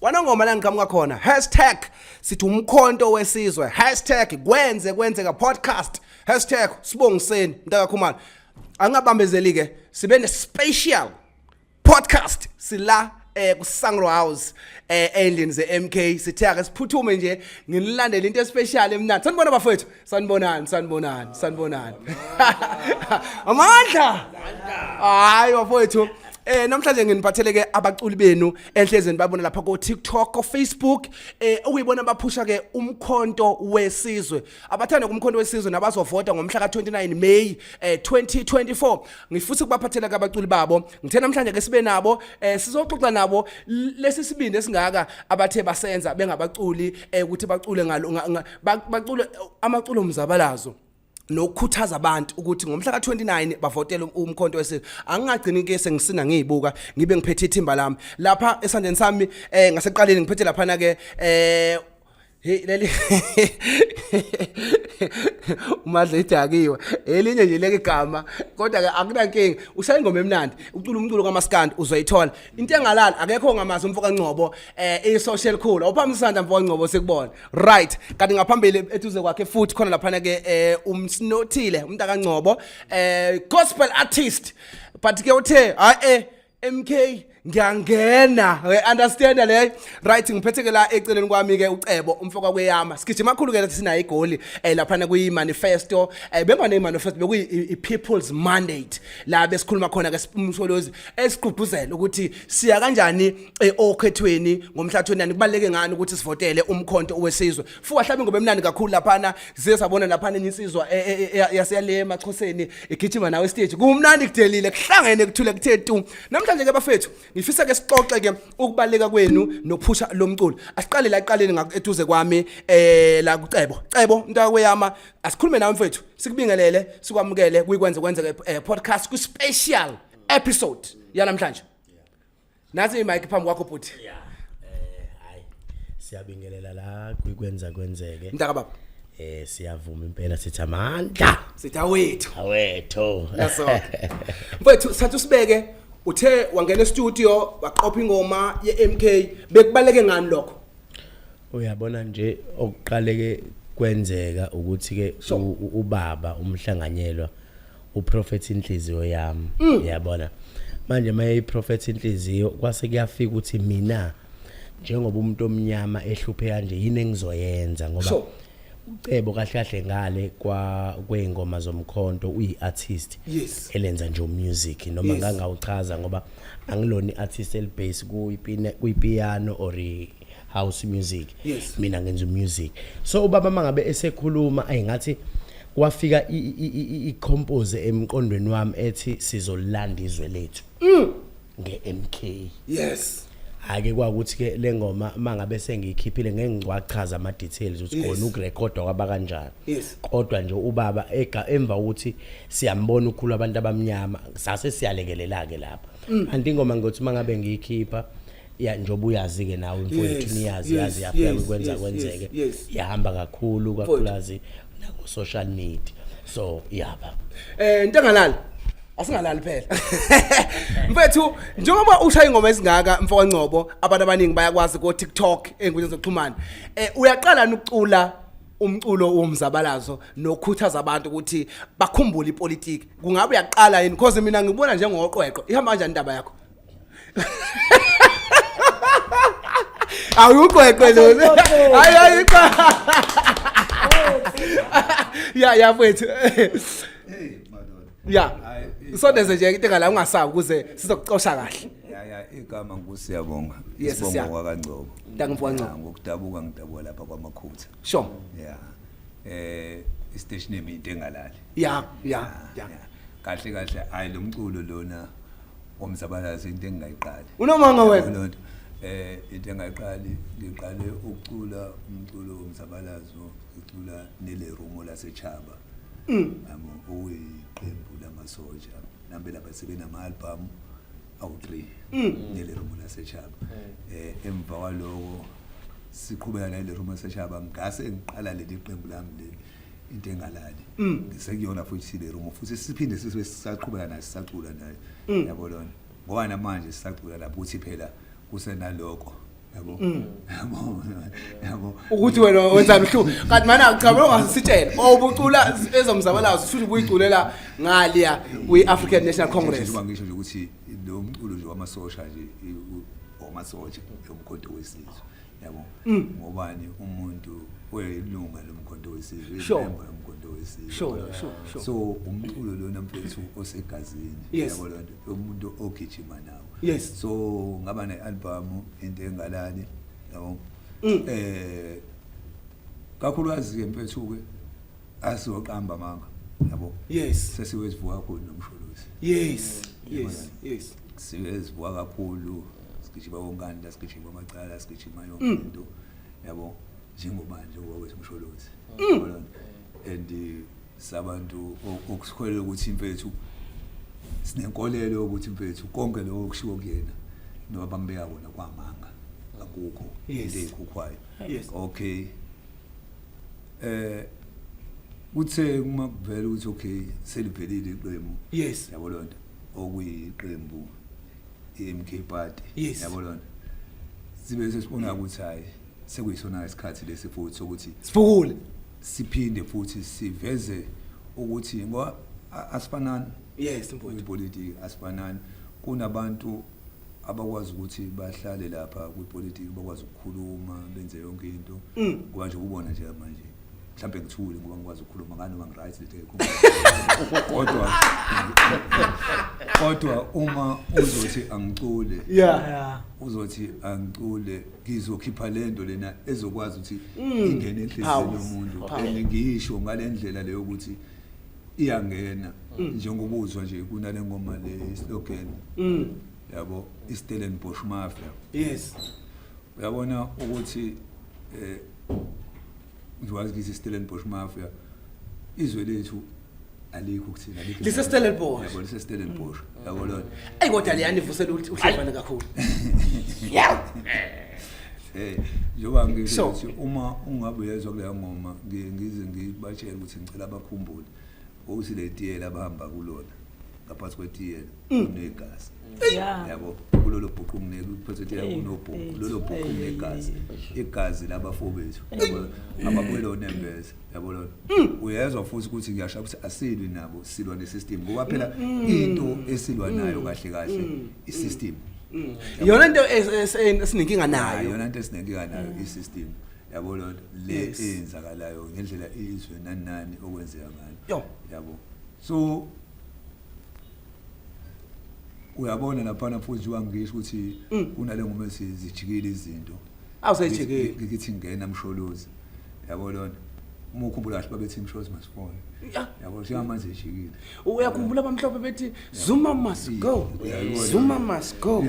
kwanongoma la ngiqhamuka khona hashtag sithi umkhonto wesizwe hashtag kwenze kwenzeka podcast hashtag sibongiseni mntakakhumalo angabambezeli-ke sibe ne-special podcast sila eh kusangro house eh endlini ze MK sithe ake siphuthume nje nginilandele into especial emnandi sanibona bafowethu sanibonani sanibonani sanibonani amandla hayi wafowethu Eh namhlanje nginiphathele ke abaculi benu enhlezweni babona lapha ko TikTok, ko Facebook eh okuyibona baphusha ke umkhonto wesizwe. Abathanda kumkhonto wesizwe nabazovota ngomhla ka29 May eh 2024. Ngifutha ukubaphathela ke abaculi babo. Ngithe namhlanje ke sibe nabo eh sizoxoxa nabo lesi sibindi esingaka abathe basenza bengabaculi eh ukuthi bacule ngalo bacule amaculo omzabalazo nokukhuthaza abantu ukuthi ngomhla ka-29 bavotele um-, umkhonto wesizwe angingagcini ke sengisina ngiyibuka ngibe ngiphethe ithimba lami lapha esandleni sami um eh, ngaseqaleni ngiphethe laphana-ke um eh, Hey leli umadle idakiwe elinye nje leke igama kodwa ke akunankinga ushaya ingoma emnandi ucula umculo kamaskandi uzoyithola into engalala akekho ngamazi umfoka Ngcobo eh i social cool awuphambi isandla mfoka Ngcobo sikubona right kanti ngaphambili eduze kwakhe futhi khona laphana ke eh umsinothile umuntu akangcobo eh gospel artist but ke uthe hayi eh MK ngiyangena we understand le right ngiphethe ke la eceleni kwami ke ucebo umfoka kweyama sigijima kakhulu ke lathi sinayo igoli eh lapha na kuyi manifesto eh bengwane manifesto bekuyi people's mandate la besikhuluma khona ke umsolozi esiqhubuzela ukuthi siya kanjani eh, okhethweni ngomhla 29 kubaleke ngani ukuthi sivotele umkhonto wesizwe fuwa hlabe ngoba emnandi kakhulu laphana size sabona laphana enye insizwa eh, eh, eh, yaseyale emachoseni igijima nawe stage kumnandi kudelile kuhlangene kuthule kuthe tu namhlanje ke bafethu ngifisa ke sixoxe ke ukubaleka kwenu nokuphusha lomculo asiqale la iqaleni ngakuduze kwami eh la kucebo cebo mntakweyama asikhulume nawe mfethu sikubingelele sikwamukele kuyikwenze kwenzeke podcast ku special episode yanamhlanje nasi imike phambi kwakho bhuti ya eh hayi siyabingelela la kwenza kwenzeke mntaka baba eh siyavuma impela sithi amandla sithi awethu awethu naso mfethu sathu sibeke uthe wangena e-studio waqopha ingoma ye-MK bekubaleke ngani lokho uyabona nje okuqaleke kwenzeka ukuthi ke ubaba umhlanganyelwa uprofet inhliziyo yami mm. yabona manje maye iprofet inhliziyo kwase kuyafika ukuthi mina njengoba umuntu omnyama ehluphe kanje yini engizoyenza ngoba so. ucebo kahle kahle ngale kwa kweingoma zomkhonto uyiartist yes. elenza nje umusic noma yes. ngangawuchaza ngoba angilona iartist elibase kuyipiano or house music yes. mina ngenza music so ubaba mangabe esekhuluma ayingathi kwafika i-compose emqondweni wami ethi sizolanda izwe lethu mm. nge-MK yes ake kwakuthi ke lengoma mangabe sengiyikhiphile ngeke ngiwachaza ama details ukuthi khona ukurekodwa kwaba kanjani kodwa nje ubaba emva ukuthi siyambona ukhulu abantu abamnyama sase siyalekelela ke lapha mm. andingoma ngothi mangabe ngiyikhipha ya njoba uyazi ke nawe mfowethu niyazi yazi yaphela ukwenza kwenzeke yahamba kakhulu kakhulazi nako social media so yaba eh ntangalala asingalali phela mfethu njengoba ushaya ingoma ezingaka mfoka Ngcobo abantu abaningi bayakwazi ku TikTok enkundleni zokuxhumana eh uyaqala ukucula umculo womzabalazo nokhuthaza abantu ukuthi bakhumbule ipolitiki kungabe uyaqala yini because mina ngibona njengoqweqwe ihamba kanjani indaba yakho awuqweqwe lona hayi hayi cha ya ya mfethu ya usondeze nje into engala ungasabi ukuze sizokucosha kahle ya ya igama ngusiyabonga isibongo kwakangcobo ngiyangibonga ngcobo ngokudabuka ngidabuka lapha kwamakhutha sure ya eh istation name into engalali ya ya ya kahle kahle hayi lomculo lona ngomzabalazo into engingayiqali unomanga wena lonto eh into engayiqali ngiqale ukucula umculo womzabalazo ngicula nele rumo lasechaba mm. amo uyiqembu lamasoja nambe lapha sebenama album awu-3 mm. nele rumo lasechaba mm. eh emva kwaloko siqhubeka nale rumo lasechaba ngase ngiqala leli qembu lami leli into engalali Mm. ngisekuyona futhi sile room futhi siphinde sise sisaqhubeka naye sisacula naye Mm. yabo lona ngoba namanje sisacula lapho uthi phela kusenaloko yabo yabo yabo Mm. ukuthi wena wenzani uhluku kanti manje akuchabe ongasitshela owubucula ezomzabalazo futhi ubuyiculela ngaliya kwi-african national congress Njengoba ngisho nje ukuthi lo mculo nje wamasosha nje i- u- wamasosha yomkhonto wesizwe yabo mm. ngobani umuntu oyilunga lomkhonto wesizwe imemba yomkhonto wesizwe so umculo lona mfethu osegazini yabo lonto umuntu ogijima nawo so ngaba ne-album into engalali yabo um kakhulukazi-ke mfethu-ke asizoqamba amanga yabo yes sesiwezivuka kakhulu nomsholozi yes yes yes siwezivuka kakhulu sigijima wonkanda sigijima amacala sigijima yonke mm. into yabo njengobandla okwawethu umsholozi mm. and uh, sabantu okusikholelwa ukuthi impethu sinenkolelo ukuthi impethu konke lokho okushiwo kuyena noma bambeka kona kwamanga akukho into eyikhukhwayo okay eh kuthe uma kuvela ukuthi okay selivelile iqembu yes yabo lonto okuyiqembu iMK party yes. yabo lonto sibe sesibona ukuthi hayi sekuyisona isikhathi lesi futhi sokuthi sifukule siphinde futhi siveze ukuthi ngoba asifanani yes impolitiki asifanani kunabantu abakwazi ukuthi bahlale lapha kwipolitiki bakwazi ukukhuluma benze yonke into mm. ngoba nje kubona nje manje mhlawumbe ngithule ngoba ngikwazi ukukhuluma ngani uma ngiright lethe kodwa kodwa uma uzothi angicule yeah uzothi angicule ngizokhipha lento lena ezokwazi ukuthi mm. ingene enhliziyweni yomuntu and ngiyisho ngalendlela leyo ukuthi iyangena mm. njengoba uzwa nje kunale ngoma le slogan mm. yabo iStellenbosch Mafia yes uyabona ukuthi eh ngiwazi ukuthi iStellenbosch Mafia izwe lethu alikho ukuthina alikho lise Stellenbosch yabo lise Stellenbosch mm. yabo lona ayi kodwa liyani vusela uhlefana kakhulu yaw Eh njengoba ngisho ukuthi uma ungabe uyezwa kuleya ngoma ngiye ngize ngibatshele ukuthi ngicela abakhumbule ukuthi le tiyela abahamba kulona ngaphansi kwetiyela mm. kunegazi yabo kulolo bhuqu kungeku phethe tiyela kunobhuqu lolo bhuqu kunegazi igazi labafowethu abakwelo nembeza yabo lona mm. uyezwa futhi ukuthi ngiyasho ukuthi asilwi nabo silwa ne system ngoba phela mm. into esilwa nayo kahle kahle i system Mm. Yona into esinenkinga nayo. Yona into esinenkinga nayo mm. i-system. Yabo lona le eyenzakalayo ngendlela izwe nani nani okwenzeka ngayo. Yabo. So uyabona laphana futhi wangisho ukuthi mm. kunale ngoma esizijikile izinto awusejikile ngithi ngena msholozi yabo lona uma ukhumbula kahle babethi msholozi masifone yabo njengamanje ejikile uyakhumbula abamhlophe bethi zuma must go zuma must go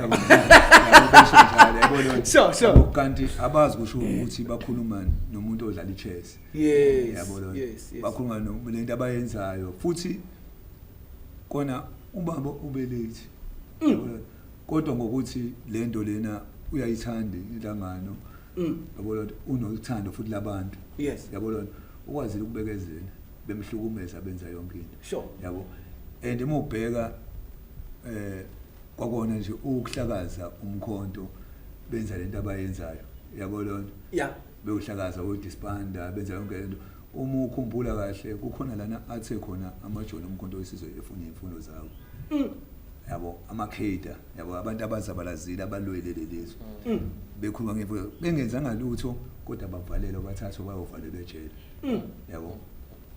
sure sure kanti abazi kusho ukuthi bakhulumani nomuntu odlala ichess yes yabona yes, yes. bakhuluma nolento abayenzayo futhi kona ubaba ubelate mm. kodwa ngokuthi lento lena uyayithanda inhlangano mm. yabona unothando futhi labantu yes yabona ukwazile ukubekezela bemhlukumeza benza yonke into sure yabo and uma ubheka eh kwakona nje ukuhlakaza umkhonto benza lento abayenzayo yabo lonto yeah bewuhlakaza udisbanda benza yonke lento uma ukhumbula kahle kukhona lana athe khona amajoni omkhonto wesizwe efuna imfundo zawo mm. yabo amakheda yabo abantu abazabalazile abalwele lelizwe mm. bekhuluma ngemfundo bengenzanga lutho kodwa bavalelwa bathathwa bayovalelwa ejele mm. yabo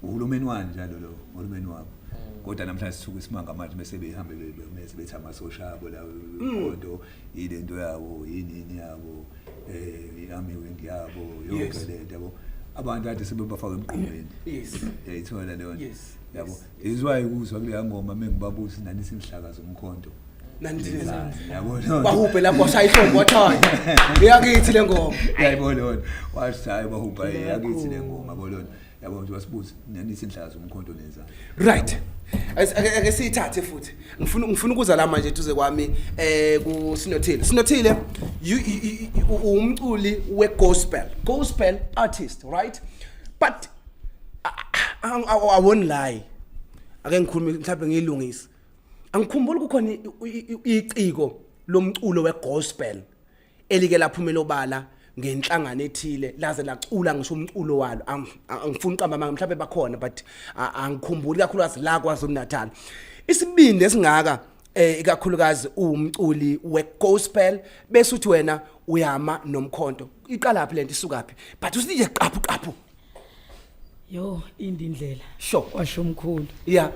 uhulumeni wani njalo lo uhulumeni wabo mm. kodwa namhlanje sithuka isimanga manje bese behambe bese bethi amasosha abo la mm. kodwa yile nto yabo yini yini yabo eh iarmy wing yabo yonke le nto yabo abantu kade sebebafaka emqondweni yes yayithola leyo yabo izwayo kuzwa kuleya ngoma mengibabusi nani singihlakaza umkhonto bahubhe lapho washaya ihlombo wathaya eyakithi le ngoma yayibona lona washaya bahubha eyakithi le ngoma bolona yabo nje wasibuza nani sinhlaka zomkhonto nenzani right ake siyithathe futhi ngifuna ngifuna ukuza la manje duze kwami eh ku Sinothile Sinothile umculi we gospel gospel artist right but awoni layi ake ngikhulume mhlawumbe ngiyilungise angikhumbuli kukhona iciko lomculo wegospel elike laphumela obala ngenhlangano ethile laze lacula ngisho umculo walo angifuni uqamba amanga mhlawumbe bakhona but angikhumbuli kakhulukazi la kwaZulu Natal isibindi esingaka eh ikakhulukazi umculi wegospel bese uthi wena uyama nomkhonto iqalaphi lento isukaphi but usije qaphu qaphu yo indindlela sho washo umkhulu ya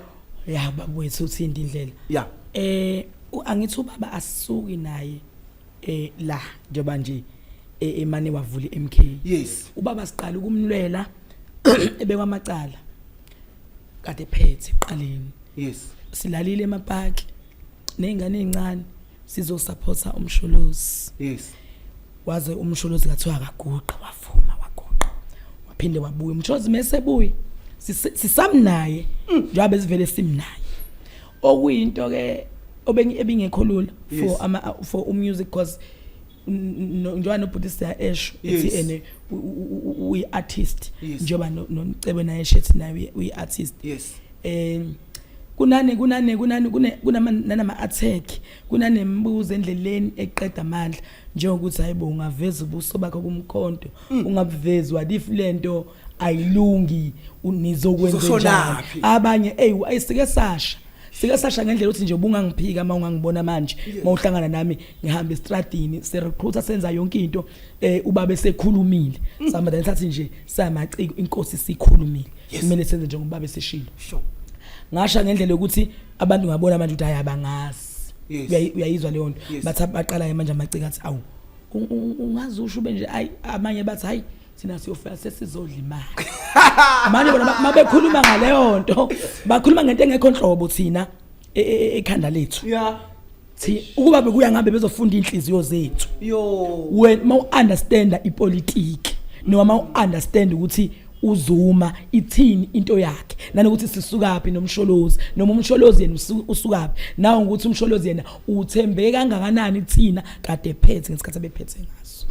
ya babwethu uthi indindlela ya eh angithi ubaba asuki naye eh la njengoba nje eh, emane wavula iMK yes ubaba siqala ukumlwela ebekwa amacala kade phethe qaleni yes silalile emapaki nezingane ezincane sizosaphotha umsholozi yes waze umsholozi kathiwa akaguqa wavuma waguqa waphinde wabuya umsholozi mesebuye sisamnaye mm. njengoba sivele simnaye okuyinto ke obengekho lula for ama for umusic cause njengoba nobhuti siya esho ethi ene uyi artist njengoba noNcebe naye shethi naye uyi artist yes eh kunane kunane kunane kunama nanama attack kunanembuzo endleleni eqeda amandla njengokuthi hayibo ungaveza ubuso bakho kumkhonto mm. ungabuvezi what if lento ayilungi u- nizokwenza Uzoshonaphi? njani abanye eyi ayi sike sasha sike sasha ngendlela ukuthi nje ubungangiphika uma ungangibona manje uma uhlangana nami ngihamba estradini sirecruiter senza yonke into eh ubaba esekhulumile Mm. sihamba then sathi nje samaciko inkosi sikhulumile kumele senze njengoba ubaba eseshilo Sure. ngasha ngendlela yokuthi abantu ngabona manje ukuthi hayi abangazi Yes. Uyayi- uyayizwa leyo nto Yes. bathi baqala-ke manje amaciko athi awu u- u- ungaze usho ube nje ayi amanye bathi hayi thina siyofika sesizodla imali manje bona ma bekhuluma ngaleyo nto bakhuluma ngento engekho nhlobo thina e- e- e- ekhanda lethu ya thi ukuba bekuya ngabe bezofunda inhliziyo zethu yo wena uma u-understanda ipolitiki noma uma u-understand ukuthi uzuma ithini into yakhe nanokuthi sisukaphi nomsholozi noma umsholozi yena usu- usukaphi nawo ukuthi umsholozi yena uthembeke kangakanani kuthina kade ephethe ngesikhathi abephethe ngaso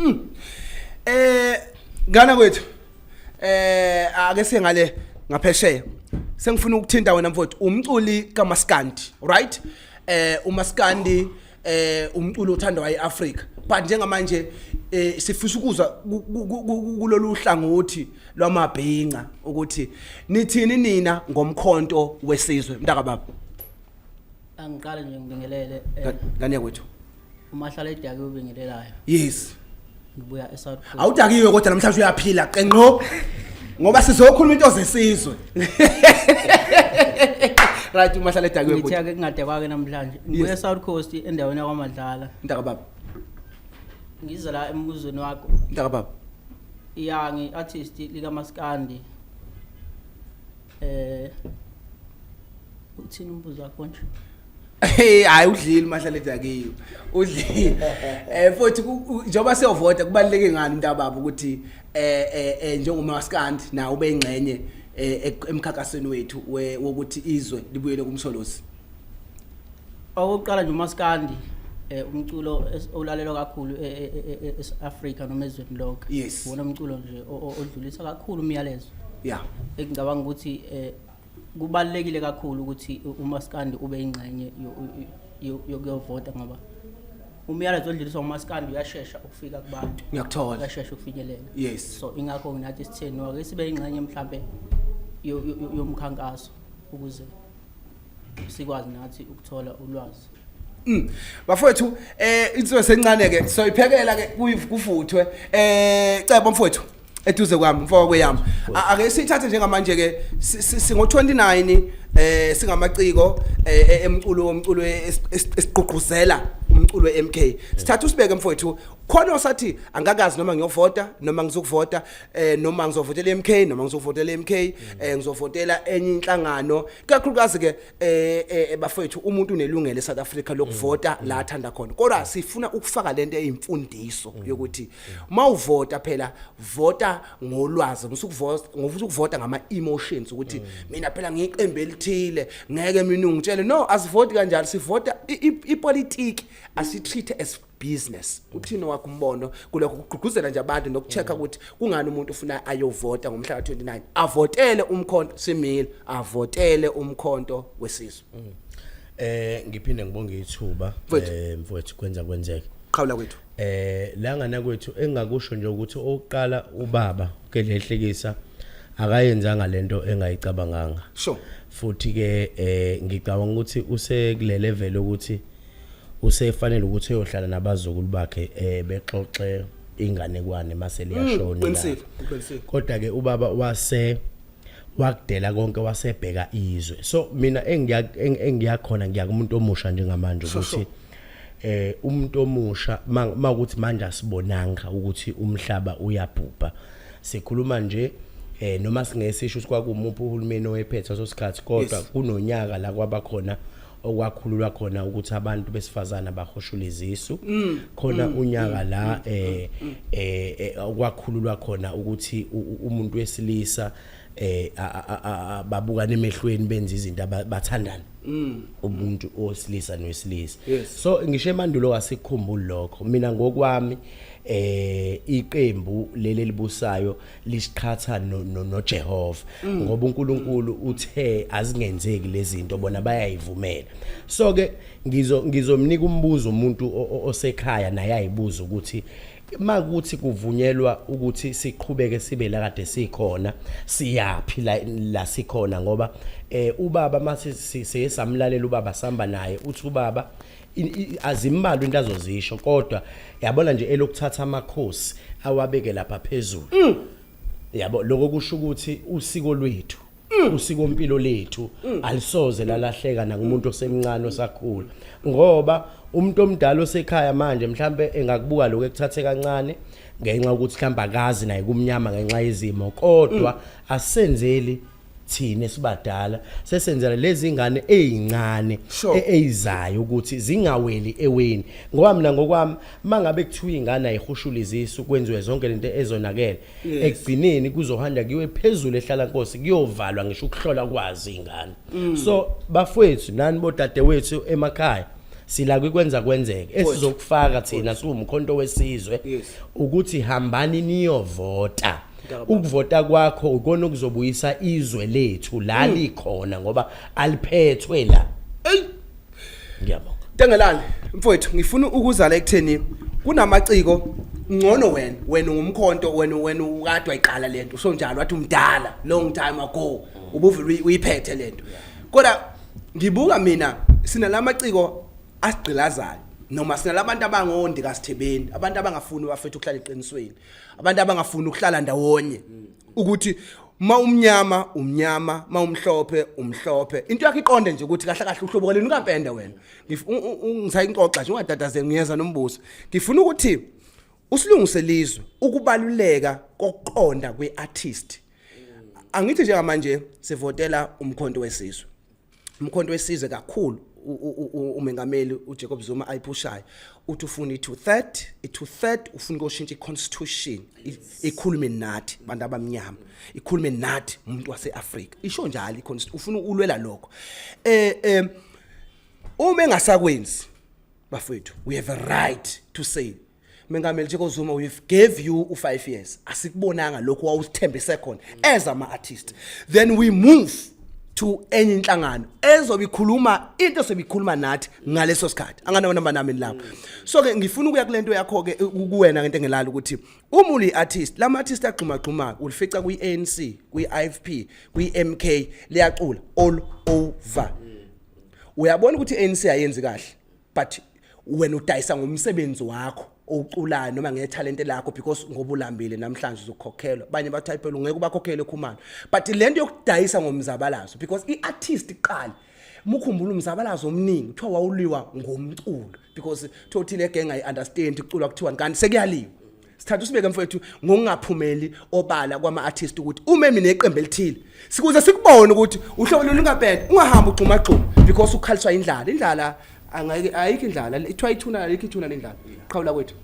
eh ngana kwethu eh ake sengale ngaphesheya sengifuna ukuthinta wena mfowethu umculi kamaskandi right eh umaskandi eh umculo othandwa eAfrica but njengamanje eh sifisa ukuzwa kulolu hlangothi lwamabhinca ukuthi nithini nina ngomkhonto wesizwe mntaka baba angiqale nje ngibingelele eh, ngane yakwethu uma hlala edake ubingelelayo yes ngibuya eSouth Coast awudakiwe kodwa namhlanje uyaphila qenqo ngoba sizokhuluma into zesizwe right uma hlala edakiwe ngithe ake kungade kwake namhlanje ngibuya eSouth Coast endaweni yakwaMadlala mntaka baba ngiza la embuzweni wakho mntaka baba ya ngi artist lika Maskandi eh uthini umbuzo wakho nje Hey hayi udlile mahlale dakiyo. Udlile. Eh futhi njoba siyovota kubaleke ngani intababo ukuthi eh eh, eh njengoma waskandi na ube ingxenye eh, emkhankasweni wethu wokuthi izwe libuyele kumsholozi. Okokuqala nje umaskandi eh umculo olalelwa kakhulu eAfrika e, e, e, noma ezweni lonke yes. wona umculo nje odlulisa kakhulu umyalezo yeah engicabanga ukuthi eh kubalulekile kakhulu ukuthi umaskandi ube ingxenye yokuyovota ngoba umyalezo odluliswa umaskandi uyashesha ukufika kubantu ngiyakuthola uyashesha ukufinyelela yes so ingakho nginathi sitheni wake sibe ingxenye mhlambe yomkhankaso ukuze sikwazi nathi ukuthola ulwazi Mm. Bafowethu eh insizwe sencane ke soyiphekela ke kuyivukuvuthwe eh cebo mfowethu eduze kwami mfoko kweyami ake sithathe njengamanje ke singo 29 eh singamaciko eh, eh, emculo womculo e, esiqhuqhuzela umculo eMK sithatha usibeke mfowethu khona osathi angakazi noma ngiyovota noma ngizokuvota eh noma ngizovotela eMK noma ngizovotela eMK eh ngizovotela enye inhlangano kakhulukazi ke eh eh bafethu umuntu unelungelo eSouth Africa lokuvota la athanda khona kodwa sifuna ukufaka lento eyimfundiso yokuthi mawuvota phela vota ngolwazi musukuvota ngofuthi ukuvota ngama emotions ukuthi mina phela ngiqembu elithile ngeke mina ungitshele no asivoti kanjalo sivota ipolitiki asitreat as business uthini wakho umbono kulokho kugqugquzela nje abantu nokuchecka ukuthi kungani umuntu ufuna ayovota ngomhla ka-29 avotele umkhonto simile avotele umkhonto wesizwe mm. eh ngiphinde ngibonge ithuba eh, mfowethu kwenza kwenzeke qhawula kwethu eh la ngana kwethu engakusho nje ukuthi oqala ubaba uGedlehlekisa akayenzanga lento engayicabanganga sure futhi ke eh ngicabanga ukuthi usekulelevel ukuthi usefanele ukuthi uyohlala nabazukulu bakhe eh bexoxe inganekwane mase liyashona mm, qinisile qinisile kodwa ke ubaba wase wakudela konke wasebheka izwe so mina engiya engiyakhona ngiya kumuntu omusha njengamanje ukuthi eh umuntu omusha makuthi manje asibonanga ukuthi umhlaba uyabhubha sikhuluma nje eh noma singeke sisho ukuthi kwakumuphi uhulumeni oyephethe sosikhathi kodwa kunonyaka la kwabakhona okwakhululwa khona ukuthi abantu besifazana bahoshule izisu mm. khona mm. unyaka mm. la eh, eh, eh okwakhululwa khona ukuthi umuntu wesilisa eh babuka nemehlweni benza izinto abathandana umuntu osilisa nowesilisa so ngisho emandulo wasikhumbula lokho mina ngokwami eh iqembu leli libusayo lisiqhatha noJehova mm. ngoba uNkulunkulu uthe azingenzeki lezinto bona bayayivumela so ke ngizo ngizomnika umbuzo umuntu osekhaya naye ayibuza ukuthi makuthi kuvunyelwa ukuthi siqhubeke sibe la kade sikhona siyaphi la la sikhona ngoba eh ubaba mathi siyesamlalela ubaba samba naye uthi ubaba azimbalwa into azozisho kodwa yabona nje elokuthatha amakhosi awabeke lapha phezulu mm. yabo lokho kusho ukuthi usiko lwethu mm. usiko mpilo lethu mm. alisoze lalahleka nakumuntu osemncane osakhula ngoba umuntu omdala osekhaya manje mhlambe engakubuka lokho ekuthathe kancane ngenxa ukuthi mhlamba akazi naye kumnyama ngenxa yezimo kodwa asenzeli mm. thina esibadala sesenzela lezi ngane ezincane Sure. e- eyizayo ukuthi zingaweli eweni ngoba mina ngokwami mangabe kuthiwa ingane ayihushula izisu kwenziwe zonke lento ezonakele Yes. ekugcineni kuzohanda kuyiwe phezulu ehlala nkosi kuyovalwa ngisho ukuhlola kwazi ingane Mm. so bafowethu nani bodadewethu emakhaya sila kwenza kwenzeke esizokufaka thina siwumkhonto wesizwe Yes. ukuthi hambani niyovota ukuvota kwakho ukona okuzobuyisa izwe lethu la hmm. likhona ngoba aliphethwe la ngiyabonga Tengelani mfowethu ngifuna ukuzala ekutheni kunamaciko ngcono wena wena ungumkhonto wena wena ukade wayiqala lento usho njalo wathi umdala long time ago ubuvile uyiphethe lento kodwa ngibuka mina sinalamaciko asigqilazayo noma sinalabantu abangondi kasithebeni abantu abangafuni bafethu ukuhlala eqinisweni abantu abangafuni ukuhlala ndawonye mm. ukuthi ma umnyama umnyama ma umhlophe umhlophe into yakhe iqonde nje ukuthi kahle kahle uhlobo kwaleni ukampende wena ngisayinxoxa nje ungatatazeli ngiyeza nombuso ngifuna ukuthi usilungise lizwe ukubaluleka kokuqonda kweartist angithi njengamanje sivotela umkhonto wesizwe umkhonto wesizwe kakhulu umengameli uJacob Zuma ayiphushayo uthi ufuna i2 third i2 third ufuna ukoshintsha iconstitution ikhulume nathi bantu abamnyama ikhulume nathi umuntu waseAfrika isho njalo iconstitution ufuna ulwela lokho eh eh uma engasakwenzi bafethu we have a right to say Mengameli Jacob Zuma we gave you u 5 years asikubonanga lokho wawusithembise khona as ama artist then we move to enye inhlangano ezobe ikhuluma into esobikhuluma nathi ngaleso sikhathi anganawo namba nami lapho so ke ngifuna ukuya kulento yakho ke kuwena ngento engelala ukuthi uma uli artist lama artist agxuma gxuma ulifica kwi ANC kwi IFP kwi MK liyacula all over uyabona ukuthi ANC ayenzi kahle but wena udayisa ngomsebenzi wakho oculayo noma ngethalente lakho because ngoba ulambile namhlanje uzokhokhelwa abanye bathi hayi phela ungeke ubakhokhele khumalo but le nto yokudayisa ngomzabalazo because i-artist iqala mukhumbula umzabalazo omningi kuthiwa wawuliwa ngomculo because kuthiwa uthile egenge ayi-understand kuculwa kuthiwani kanti sekuyaliwa sithatha usibeke mfowethu ngokungaphumeli obala kwama-artist ukuthi ume mina eqembu elithile sikuze sikubone ukuthi uhlobo lolu lungabheda ungahambi ugxumagxuma because ukhaliswa indlala indlala angayike- ayikho indlala ithiwa ithuna ayikho ithuna lendlala qhawula kwethu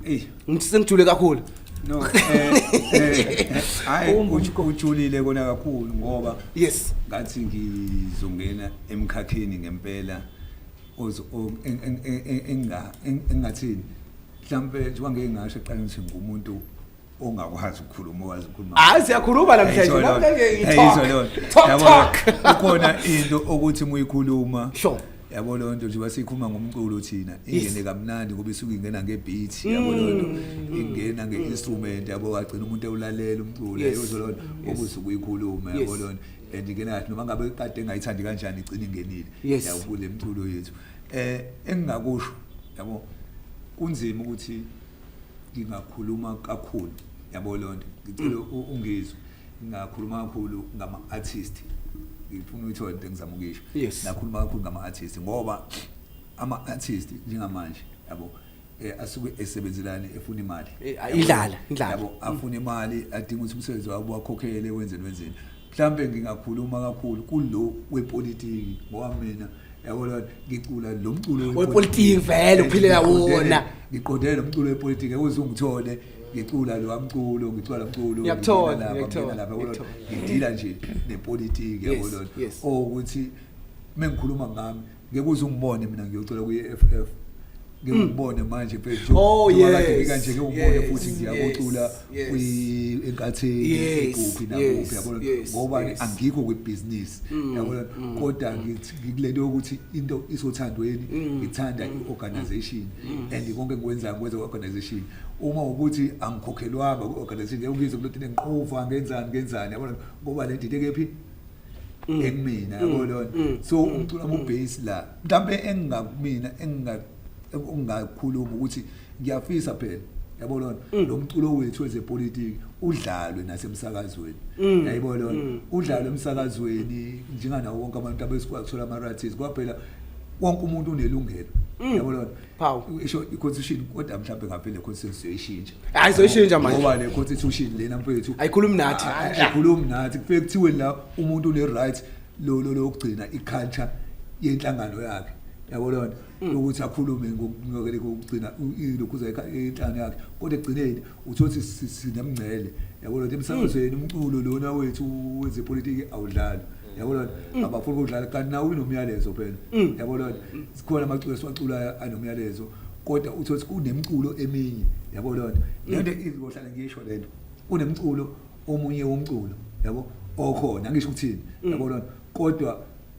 Eyi, ngithi sengijule kakhulu no eh, eh, hayi uju- ujulile kona kakhulu ngoba yes ngathi ngizongena emkhakheni ngempela ozo- o- en- en- en- en- enga- en- engingathini mhlawumbe njengoba ngeke ngasho eqaleni ukuthi ngumuntu ongakwazi ukukhuluma owazi ukukhuluma hayi siyakhuluma namhlanje ukhona into okuthi muyikhuluma sure yabo loo nto njengoba sikhuluma ngomculo thina ingene kamnandi ngoba isuke ingena ngebeat yabo loo nto mm. ingena nge-instrument yabo wagcina umuntu ewulalela umculo yozwa loo nto ngoba usuke uyikhuluma yabo loo nto and ingena kahle noma ngabe kade engayithandi kanjani igcina ingenile yawukule mculo yethu Eh engingakusho yabo kunzima ukuthi ngingakhuluma kakhulu yabo lonto ngicela ungizwe ngingakhuluma kakhulu ngama artist ngifuna uyithole into engizama ukuyisho yes. nakhuluma kakhulu ngama-artist ngoba ama-artist njengamanje yabo eh, asuke esebenzelani efuna imali Eh, a- indlala, indlala. yabo afuna imali adinga ukuthi umsebenzi wabo wakhokhele wenzeni wenzeni mhlawumbe ngingakhuluma kakhulu kulo wepolitiki ngoba mina yabo lona ngicula lo mculo Wepolitiki vele, Eh, uphilela ngiqondene- wona. ngiqondene nomculo wepolitiki ekuze ungithole ngicula lo mculo ngicula lo mculo Ngiyakuthola, ngingena lapha, ngiyakuthola, ngingena lapha, yabo lona. ngiyakuthola. ngidila nje nepolitiki yabo Yes, lona yes. ukuthi mengikhuluma ngami ngeke uze ungibone mina ngiyocela kwi-EFF ngeke mm. ungibone manje mfethu oh, yes. kanje ngeke ungibone yes. futhi ngiyakocula yes. kwi-enkatheni yes. kuphi nakuphi yabona yes. ngoba yes. angikho kwibhizinisi mm. yabona mm. kodwa mm. ngikule nto yokuthi into isothandweni mm. ngithanda mm. i-organization mm. and konke ngikwenzayo ngikwenza kwi-organization uma ukuthi angikhokhelwanga kwi-organization ngeke ungizwe kulotini ngiqova ngenzani ngenzani yabona ngoba le ndidekephi mm. ekumina mm. yabo lona mm. so umculo wami ubase la mhlambe engingakumina enginga ungakhuluma ukuthi ngiyafisa phela yabo lona mm. lo mculo wethu wezepolitiki udlalwe nasemsakazweni mm. yayibo lona mm. udlalwe emsakazweni njenganawo wonke abantu abesikwazi ukuthola ama-ratis kwaphela wonke umuntu unelungelo yabo lona phawu isho iconstitution kodwa mhlawumbe ngavele constitution siyoyishintsha hayi soyishintsha manje ngoba le constitution lena mfethu ayikhulumi nathi ayikhulumi nathi kufike kuthiwe la umuntu une right lo lo lokugcina iculture yenhlangano yakhe yabo lona ukuthi akhulume ngokungcokele kokugcina lokhuza inhlangano yakhe kodwa egcineni uthothi sinemngcele yabona ukuthi emsakazweni hmm. umculo lona wethu wezepolitiki awudlali yabona hmm. abafuni ukudlala kanti nawo unomyalezo phela hmm. yabona sikhona amaculo esiwaculayo anomyalezo kodwa uthothi kunemculo eminye yabona lento izohlala ngisho lento kunemculo omunye womculo yabo okhona ngisho ukuthini yabona kodwa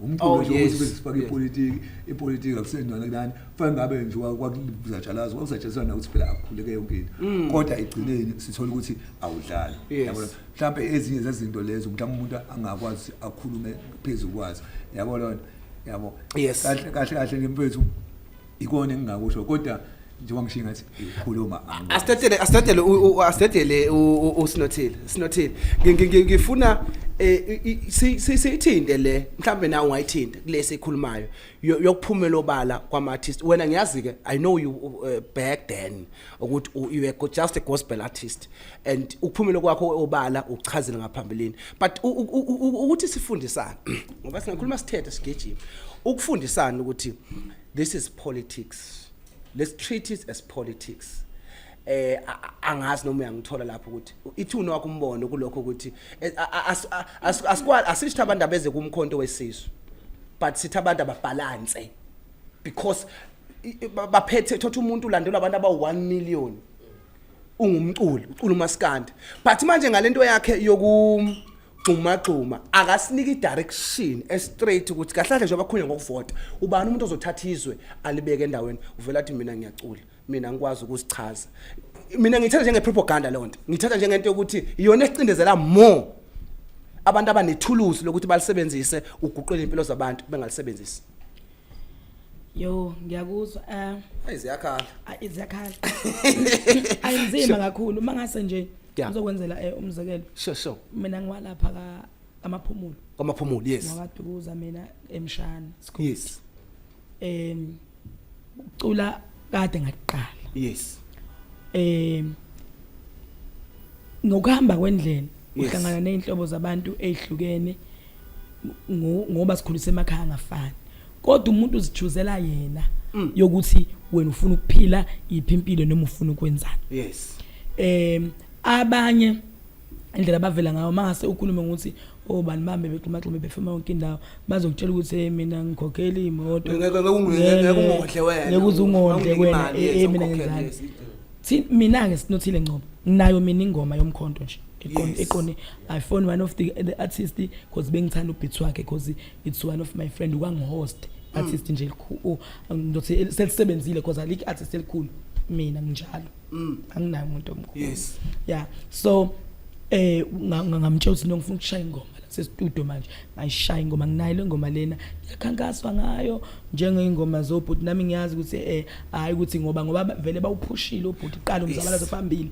umculo oh, nje ukuthi bezifake ipolitiki ipolitiki akusenjona kunani fanele ngabe nje kwakuzatshalazwa kwakuzatshalazwa na ukuthi phela akukhuleke yonke into mm. kodwa egcineni sithola ukuthi awudlali yabona mhlawumbe ezinye zezinto lezo mhlawumbe umuntu angakwazi akhulume phezulu kwazo yabo lona yabo kahle kahle kahle ngempethu ikona engingakusho kodwa njengoba ngishiye ngathi khuluma asithathele asithathele asithathele usinothile sinothile ngifuna eh, siyithinte le mhlambe nawe ungayithinta kulesi ikhulumayo yokuphumela obala kwama artist wena ngiyazi ke i know you uh, back then ukuthi you were just a gospel artist and ukuphumela kwakho obala uchazile ngaphambilini but ukuthi sifundisana ngoba singakhuluma sithethe sigejima ukufundisana ukuthi This is politics. Let's treat it as politics. eh angazi noma uyangithola lapho ukuthi ithuna wakho umbono kulokho ukuthi eh, asikwali asisitha abantu abeze kumkhonto wesizwe but sitha abantu ababalance because baphethe thothi umuntu ulandelwa abantu aba 1 million ungumculi ucula umaskandi but manje ngalento yakhe yoku gxumagxuma akasiniki direction estraight ukuthi kahle kahle njengoba khulunywa ngokuvota ubani umuntu ozothatha izwe alibeke endaweni uvela athi mina ngiyacula mina ngikwazi ukusichaza mina ngithatha njenge propaganda leyo nto ngithatha njengento yokuthi iyona esicindezela more abantu abanethuluzi lokuthi balisebenzise uguqule impilo zabantu bengalisebenzisi Yo ngiyakuzwa eh Hayi ziyakhala. ayi ziyakhala ayinzima kakhulu uma ngase nje Yeah. ngizokwenzela eh, umzekelo Sure sure. mina ngiwalapha ka amaphumulo Kwamaphumulo yes. ngwadukuza mina emshana sikhona Yes. em ucula kade ngaqala Yes. em ngokuhamba kwendlela Yes. uhlangana nezinhlobo zabantu ezihlukene ngoba sikhulise emakhaya angafani kodwa umuntu uzichuzela yena mm. yokuthi wena ufuna ukuphila iphi impilo noma ufuna ukwenzani yes em abanye indlela bavela ngayo mase ukhulume ngokuthi oh bani bambe bexhumaxhume befema yonke indawo bazokutshela ukuthi hey mina ngikhokhela imoto ngeke ungodle wena ngeke uzungondle wena eh mina ngenzani thina mina ke sinothile ngcobo nginayo mina ingoma yomkhonto nje iqoni iqoni i phone one of the, the artist because bengithanda ubeats wakhe because it's one of my friend wangihost mm. artist nje elikhulu ndothi oh, selisebenzile because alike artist elikhulu mina nginjalo mm. anginayo umuntu omkhulu yes yeah so eh ngamtshela ukuthi ngifuna ukushaya ingoma sestudio manje ngayishaya ingoma nginayo le ngoma lena yakhankaswa ngayo njengeyingoma zobhuti nami ngiyazi ukuthi eh hayi ukuthi ngoba ngoba vele bawuphushile ubhuti qala umzabalazo phambili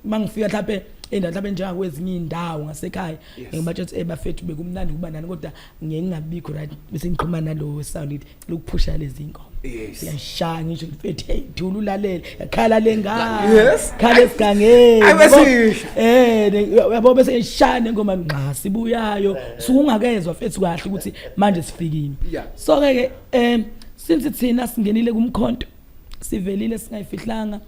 mangifika mhlawumbe endawo mhlawumbe njengakwezinye indawo ngasekhaya ngibatshe ukuthi eh bafethu bekumnandi kuba nani kodwa ngeke ngingabikho right bese ngiqhuma nalowo sound lokuphusha lezi ngoma Yes. Siyashaya ngisho ngifethe hey thula ulalele khala lengane Yes. khala esigangeni Ay, bese yabo? yisho. eh ne- yabo bese ngishaya nengoma ngqa sibuyayo sukungakezwa fethu kahle ukuthi manje sifikile Yeah. so ke ke em since thina singenile kumkhonto sivelile singayifihlanga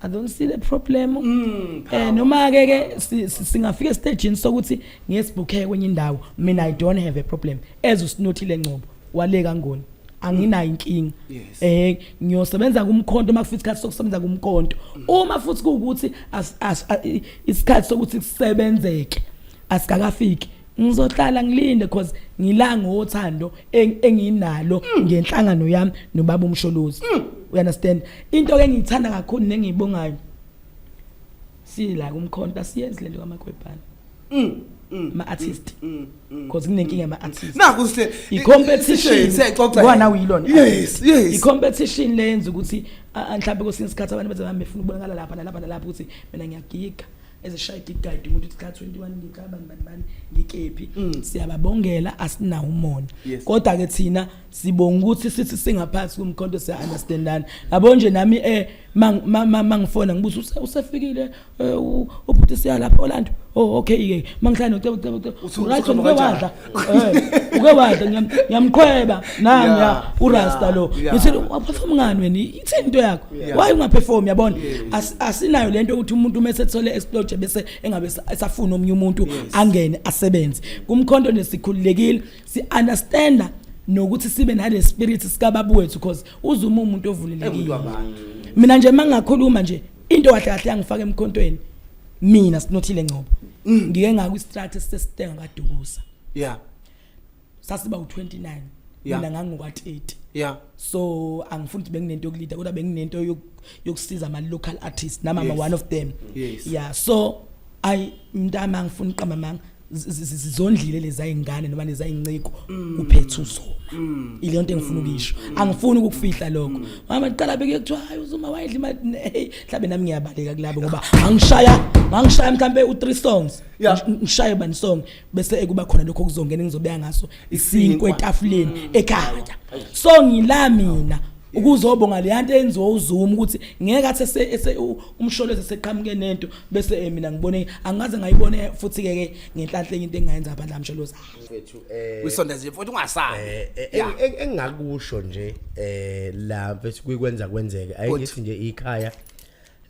I don't see the problem. Mm, eh noma ke ke si- si- singafika estageni sokuthi ngesibukhe kwenye indawo mina I don't have a problem as usinothile ngcobo. wale kangoni anginayo inkinga Yes. eh ngiyosebenza kumkhonto uma kufika isikhathi sokusebenza kumkhonto uma futhi kuwukuthi as- as- a- i- isikhathi sokuthi kusebenzeke asikakafiki ngizohlala ngilinde because ngila ngothando eng- enginalo ngenhlangano yami nobaba umsholozi you understand into ke engiyithanda kakhulu nengiyibongayo sila kumkhonta siyenzi lento kamakwebhana mm, mm, ma artist mm, because kunenkinga ama artist naku sile i competition ngwana uyilona yes yes i competition lenza ukuthi mhlawumbe kwesinye isikhathi abantu benza bambe funa ukubonakala lapha nalapha nalapha ukuthi mina ngiyagiga ezishaya igigayidi umuntu uthi kuthatha 21 ngicabani bani bani ngikephi siyababongela asinawo umona kodwa ke thina sibonga ukuthi sithi singaphansi kumkhonto siya understandana yabo nje nami eh mangifona ngibuza usefikile eh, ubhuti siya lapha Orlando oh okay ke mangihlala ucebo ucebo ucebo right uke wadla eh, uke wadla ngiyamqhweba nami ya urasta lo ngithi waphuma ngani wena ithini into yakho why ungaperform yabona asinayo lento ukuthi umuntu uma esethole explode bese engabe esafuna omunye umuntu angene asebenze kumkhonto nesikhululekile si understand nokuthi sibe nale spirit sika babu wethu because uzuma umuntu ovulelekile mina nje mangakhuluma nje into kahle kahle yangifaka emkhontweni mina sinothile ngcobo mm. ngike ngaku strat sesitenga kadukusa yeah sasiba u29 mina ngangokwa 30 yeah so angifuni ukuthi benginento yokulida kodwa benginento yokusiza ama local artists nama yes. one of them yes. yeah so ayi mntama ngifuna uqamba manga zizondlile lezayingane noma lezayinciko mm. kuphethe uzoma mm. ile nto engifuna mm. ukisho angifuni ukufihla lokho mama qala beke kuthiwa hayi uzuma wayidla imali hey mhlabe nami ngiyabaleka kulabo ngoba angishaya angishaya mhlambe u3 songs ngishaye bani song bese ekuba khona lokho kuzongena engizobeka ngaso isinkwe etafuleni mm. ekhaya so ngila mina ukuzobonga leya nto enziwa uZuma ukuthi ngeke athi ese umsholozi seqhamuke nento bese eh, mina ngibone angaze ngayibone futhi ke ke ngenhlanhle into engayenza abadla msholozi mfethu eh wisonda nje mfethu ungasabi eh, eh, eh engakusho nje eh la mfethu kuyikwenza kwenzeke ayithi nje ikhaya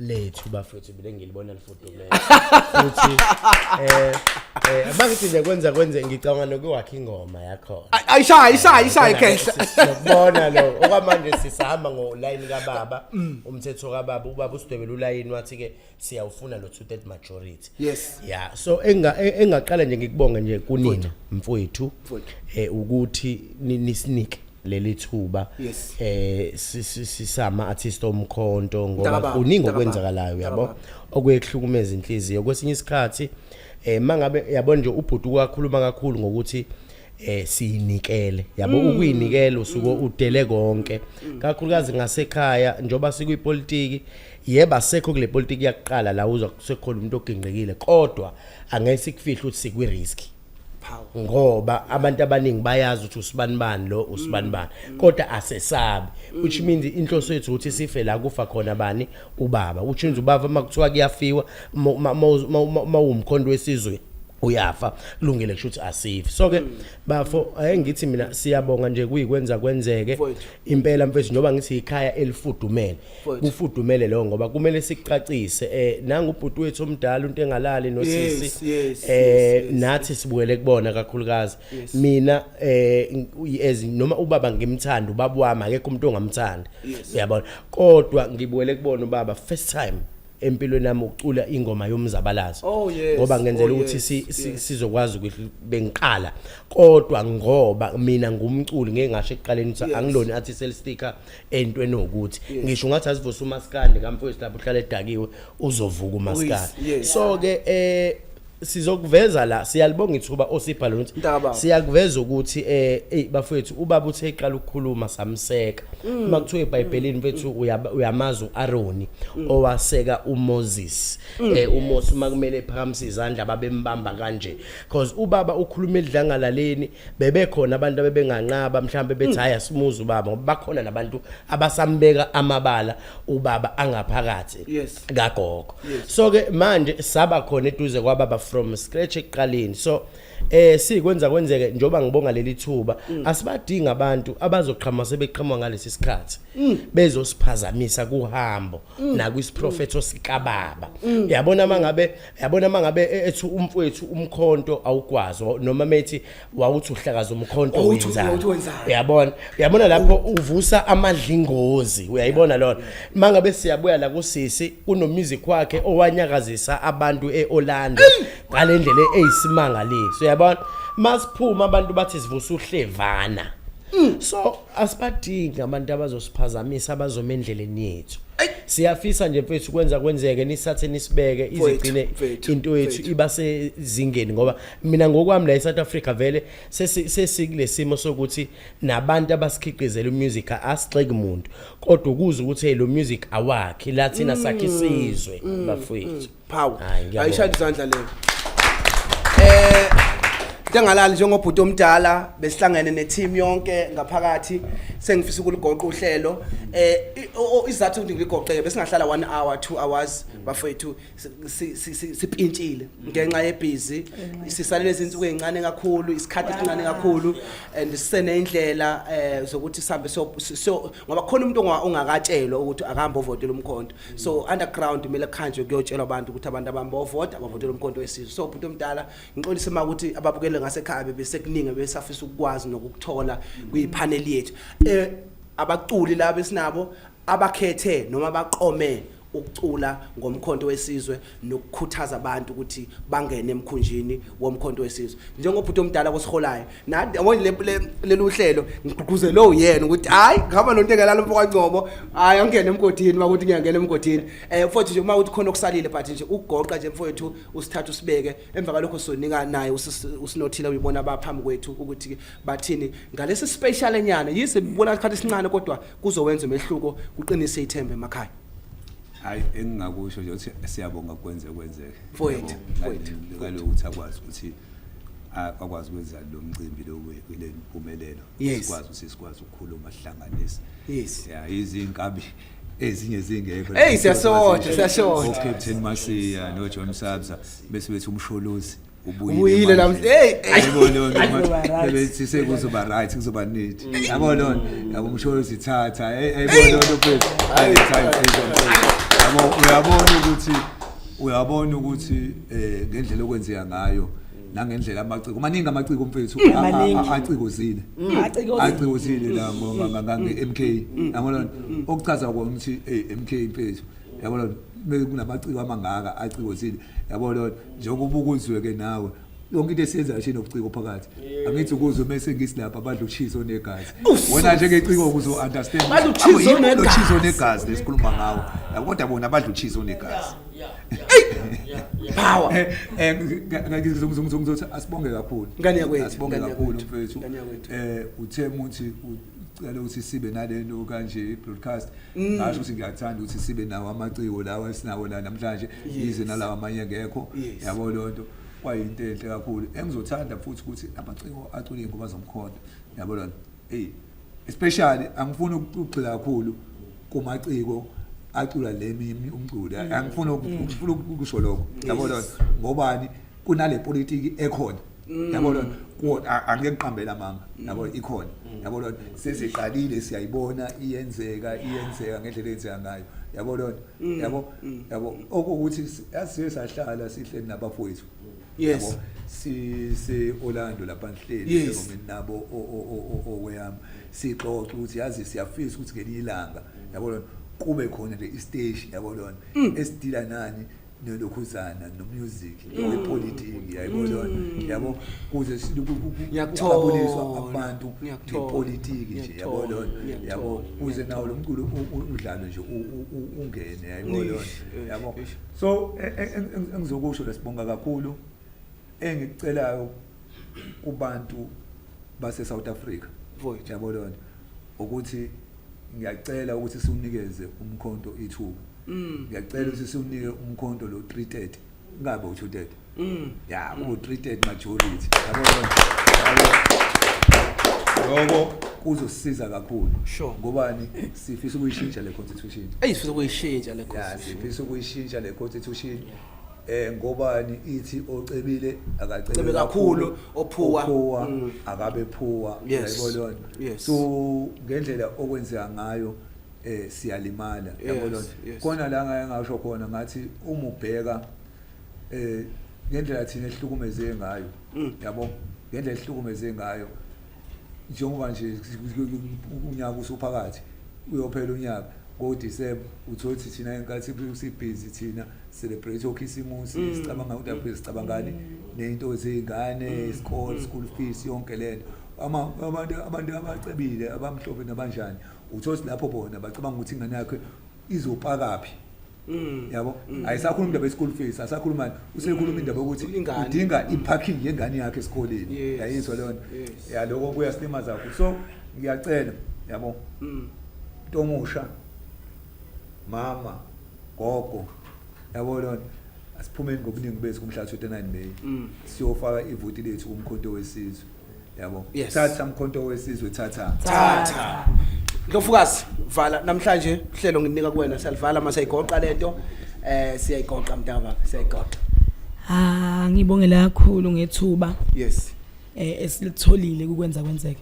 lethu bafethu mina ngilibona lifudumele futhi eh eh mangithi nje kwenza kwenze ngicabanga nokuwakha ingoma yakhona Ay- ayishaya ayishaya ayishaya ikhehla sokubona lo okwamanje sisahamba ngolayini kababa Mm. umthetho kababa ubaba usidwebela ulayini wathi ke siyawufuna lo two third majority Yes. yeah so enga- e- engaqala nje ngikubonge nje kunina mfowethu eh ukuthi ni- nisinike leli thuba Yes. eh si- si- sisama artist omkhonto ngoba Mntakababa, kuningi mntakababa, okwenzakalayo yabo mntakababa. okuyehlukumeza inhliziyo kwesinye isikhathi eh mangabe yabo nje ubhuti kwakhuluma kakhulu ngokuthi eh siyinikele yabo Mm. ukuyinikela usuke udele konke kakhulukazi ngasekhaya njoba sikwipolitiki yeba sekho kule politiki yakuqala la uzwa kusekhona umuntu ogingqekile kodwa angeke sikufihle ukuthi sikwi risk ngoba abantu abaningi bayazi ukuthi usibanibani lo usibanibani mm. kodwa asesabi mm. which means inhloso yethu ukuthi sife la kufa khona bani ubaba which means ubaba makuthiwa kuyafiwa mawumkhondo wesizwe uyafa kulungile kusho ukuthi asifi so ke mm. bafo ayengithi mina siyabonga nje kuyikwenza kwenzeke impela mfethu njengoba ngithi ikhaya elifudumele kufudumele lo ngoba kumele sicacise eh nangu ubhuti wethu omdala into engalali nosisi eh nathi sibukele kubona kakhulukazi mina eh as noma ubaba ngimthanda ubaba wami akekho umuntu ongamthanda uyabona kodwa ngibukele kubona ubaba first time empilweni nami ukucula ingoma yomzabalazo oh, ngoba ngenzela oh, ukuthi sizokwazi ukuthi bengiqala kodwa ngoba mina ngumculi ngeke ngasho ekuqaleni ukuthi angilona artist sticker entweni ukuthi ngisho ungathi asivusa umaskandi kamfowethu lapho uhlala edakiwe uzovuka umaskandi so ke eh sizokuveza la siyalibonga ithuba osipha lona siyakuveza ukuthi eh hey bafethu ubaba uthe iqala ukukhuluma samseka mm. uma kuthiwa eBhayibhelini mfethu uyamazi uAroni mm. owaseka uMoses mm. eh uMoses uma kumele ephakamisa izandla babembamba kanje because ubaba ukhuluma edlangalaleni bebekhona abantu abebenganqaba mhlawumbe bethi mm. hayi asimuzi ubaba ngoba bakhona nabantu abasambeka amabala ubaba angaphakathi yes. kagogo yes. so ke manje saba khona eduze kwababa from scratch ekuqaleni so eh sikwenza kwenzeke njoba ngibonga leli thuba mm. asibadinga abantu abazoqhama sebeqhamwa ngalesi sikhathi mm. bezosiphazamisa kuhambo mm. nakwisiprofetho mm. sikababa mm. yabona mangabe yabona uma ngabe e- ethi umfowethu umkhonto awukwazi wa- noma methi wawuthi uhlakaza umkhonto Wawuthi- wawuthi wenzani wenzani. uyabona uyabona lapho uvusa amadlingozi uyayibona lona uma ngabe siyabuya la kusisi kunomusic wakhe owanyakazisa abantu e-orlando ngale ndlela eyisimangaliso uyabona masiphuma abantu bathi sivusa uhlevana so asibadingi abantu abazosiphazamisa abazoma endleleni yethu siyafisa nje mfethu kwenza kwenzeke nisathe nisibeke izigcine into yethu iba sezingeni ngoba mina ngokwami la eSouth Africa vele sesikulesimo sokuthi nabantu abasikhiqizela umusic asixeki umuntu kodwa ukuza ukuthi hey lo music awakhi lathina mm. sakhe isizwe mm. bafethu phawu Hayi, ngiyabonga. ayishaya izandla leyo eh ntengalali njengobhuti omdala besihlangene neteam yonke ngaphakathi sengifisa ukuligoqa uhlelo eh i- o- o- isizathu ukuthi ngiligoqeke besingahlala 1 hour 2 hours bafethu si- si- si- si- sipintshile ngenxa yebhizi sisalele izinsuku ezincane kakhulu isikhathi esincane kakhulu and siseneyindlela eh zokuthi sihambe so- so ngoba khona umuntu onga- ongakatshelwa ukuthi akahambe ovotela umkhonto so underground kumele khanjwe kuyotshelwa abantu ukuthi abantu abami bovota bavotela umkhonto wesizwe so bhuti omdala ngixolise uma ukuthi ababukele ngasekhaya bebesekuningi besafisa ukukwazi nokukuthola kwipanel yethu eh abaculi laba esinabo abakhethe noma baqome ukucula ngomkhonto wesizwe nokukhuthaza abantu ukuthi bangene emkhunjini womkhonto wesizwe njengobhuti omdala kosiholayo lelu hlelo ngigqugquzele uyena ukuthi hhayi ngihamba nonto engelala umfokangcobo hhayi angingene emgodini uma ukuthi ngiyangena emgodini um eh, futhi nje uma ukuthi khona okusalile but nje ukugoqa nje mfowethu usithatha usibeke emva kwalokho sonika naye usinothile uyibona abaphambi kwethu ukuthi bathini ngalesi special enyana yize bibona isikhathi esincane kodwa kuzowenza umehluko kuqinise ithemba emakhaya hayi engingakusho nje ukuthi siyabonga kwenze kwenzeke mfowethu kaloku ukuthi akwazi ukuthi akwazi ukwenza lo mcimbi lo kule mpumelelo sikwazi ukuthi sikwazi ukukhuluma sihlanganise yes ya izinkabi ezinye zingekho hey siyashoda siyashoda captain masiya no john sabza bese bethi umsholozi ubuyile namhlanje hey ayibona lona bethi sekuzoba right kuzoba neat yabo lona yabo umsholo sithatha ayibona lona mfethu hayi time please yabo uyabona ukuthi uyabona ukuthi eh ngendlela okwenzeka ngayo nangendlela amaciko maningi amaciko mfethu acikozile acikozile la ngo MK yabo lona okuchaza ukuthi eh MK mfethu yabo lona bese kunamaciko amangaka aciko sini yabo lona njengoba ubukuzwe ke nawe yonke into esiyenza nje nobuciko phakathi angithi ukuzwe bese ngisilapha abantu uchizo onegazi wena nje ngeciko ukuzo understand Badla uchizo onegazi. uchizo onegazi lesikhuluma ngawo yabo kodwa bona badla uchizo onegazi power eh eh ngizongizongizothi asibonge kakhulu Ngane yakwethu, asibonge ngane kakhulu yakwethu, mfethu ngane yakwethu. eh uthe muthi u- cela ukuthi sibe nalento kanje broadcast mm. ngasho ukuthi ngiyathanda ukuthi sibe nawo amaciko lawa esinawo la namhlanje yize nalawa amanye ngekho yabo lonto kwayinto enhle kakhulu engizothanda futhi ukuthi amaciko acule ingoma zomkhonto yabo lonto hey especially angifuni ukugxila kakhulu kumaciko acula lemi umculo mm. angifuni ukufuna ukusho lokho yabo lonto ngobani kunale politiki ekhona Mm. yabo lona ku- a- angeke kuqambela mama yabo ikhona Mm. yabo lona seziqalile siyayibona iyenzeka iyenzeka ngendlela eyenzeka ngayo yabo lona Mm. yabo yabo okuwukuthi si- asiye sahlala sihleli nabafowethu Yes. Yabo, si si Orlando lapha ngihleli Yes. eRomini nabo o- o- o- o- okweyami sixoxa ukuthi yazi siyafisa ukuthi ngelinye ilanga yabo lona kube khona le isteshi yabo lona esidila nani nolokhuzana nomusic wepolitiki yayibona yabo kuze siyakubuliswa abantu ngepolitiki nje yabo lona yabo kuze nawo lo mculo udlalo nje ungene yayibona lona yabo so engizokusho lesibonga kakhulu engicelayo kubantu base South Africa mfowethu yabo lonto ukuthi ngiyacela ukuthi siwunikeze umkhonto ithuba mm. ngiyacela ukuthi siwunike umkhonto lo 330 ngabe u230 mm. ya u 330 majority yabo lonto yabo kuzosiza kakhulu sure ngobani sifisa ukuyishintsha le constitution ayisifisa ukuyishintsha le constitution sifisa ukuyishintsha le constitution yeah. eh ngobani ithi ocebile akacebe Cebe kakhulu, ophuwa. ophuwa Mm. akabe phuwa Yes. yabo lona Yes. so ngendlela okwenzeka ngayo eh siyalimala yabo Yes, lona yes. kona la ngaye ngasho khona ngathi uma ubheka eh ngendlela thina ehlukumeze ngayo Mm. yabo ngendlela ehlukumeze ngayo Njengoba nje unyaka usuphakathi uyophela unyaka ngoDisemba uthole ukuthi thina inkathi sibhizi thina celebrate okhisimusi mm. sicabanga ukuthi aphela sicabangani mm. nento zey'ngane mm. isikole school fees yonke le nto abantu abantu abacebile abamhlophe nabanjani uthole ukuthi lapho bona bacabanga ukuthi ingane yakhe izopakaphi Mm. yabo mm. ayisakhuluma indaba ye-school fees asakhuluma usekhuluma mm. indaba yokuthi udinga i-parking yengane yakhe esikoleni yayizwa leyo nto ya loko kuya silima zakho so ngiyacela yabo into omusha mama gogo yabo leyo nto asiphumeni ngobuningi bethu kumhla 29 May siyofaka ivoti lethu kumkhonto wesizwe yabo Yes. thatha mkhonto wesizwe thatha thatha ndlofukazi vala namhlanje uhlelo ngininika kuwena siyalivala uma siyayigoqa le nto um siyayigoqa mntakababa siyayigoqa Ah ngibongela kakhulu ngethuba yes eh esilitholile kukwenza kwenzeke.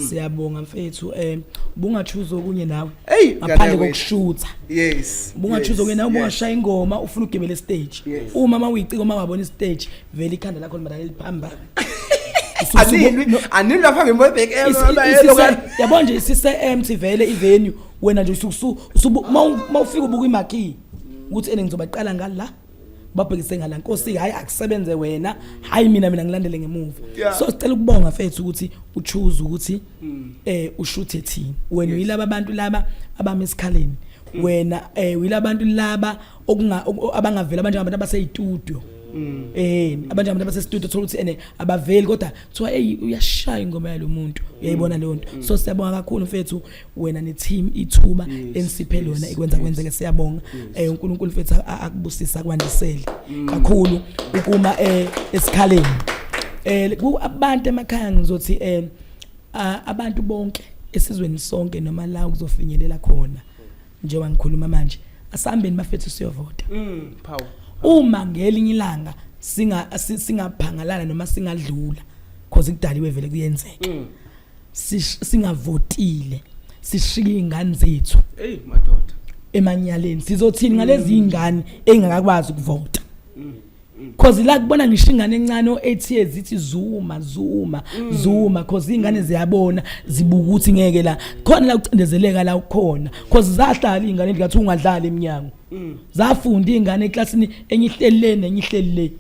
Siyabonga mfethu eh ubungachuza okunye nawe Eyi, ngaphandle ngane wethu. kokushutha. yes Ubungachuza yes, okunye nawe yes. ubungashaya ingoma ufuna ugebele stage. Yes. Uma mawuyicika uma wabona stage vele ikhanda lakho limadala liphambana. anilwi anilwi lapha ngemobhek yabo nje sise-empty vele ivenue wena nje uma ufika ubuka imakii ukuthi ene ngizobaqala ngala babhekise ngala nkosi hayi akusebenze wena hayi mina mina ngilandele ngemuva yeah. so sicela ukubonga fethu ukuthi uchoose ukuthi mm. eh ushuthe thina wena yes. uyilaba abantu laba abami esikhaleni mm. wena eh uyilaba abantu laba okunga abangavela manje abantu abaseyitudio Mm. eh abantu abantu base studio thola ukuthi ene abaveli kodwa kuthiwa hey uyashaya ingoma yalomuntu uyayibona mm. leyo nto mm. so siyabonga kakhulu mfethu wena ne team ithuba ensiphe lona ikwenza kwenzeke siyabonga eh uNkulunkulu mfethu akubusisa kwandisele kakhulu ukuma eh esikhaleni eh ku abantu emakhaya ngizothi eh abantu bonke esizweni sonke noma la kuzofinyelela khona njengoba ngikhuluma manje asihambeni bafethu siyovota mm, uma ngelinye ilanga singaphangalala noma singadlula cause kudaliwe vele kuyenzeka mm. singavotile sishiye izingane zethu hey madoda emanyaleni sizothini ngalezi izingane engakakwazi ukuvota mm. cause la kubona ngisho ingane encane o8 years ithi zuma zuma mm. zuma cause ingane ziyabona zibuka ukuthi ngeke la khona la kucindezeleka la ukhona cause zahlala ingane ngathi ungadlali eminyango mm. zafunda ingane eclassini enyihlelene enyihlelele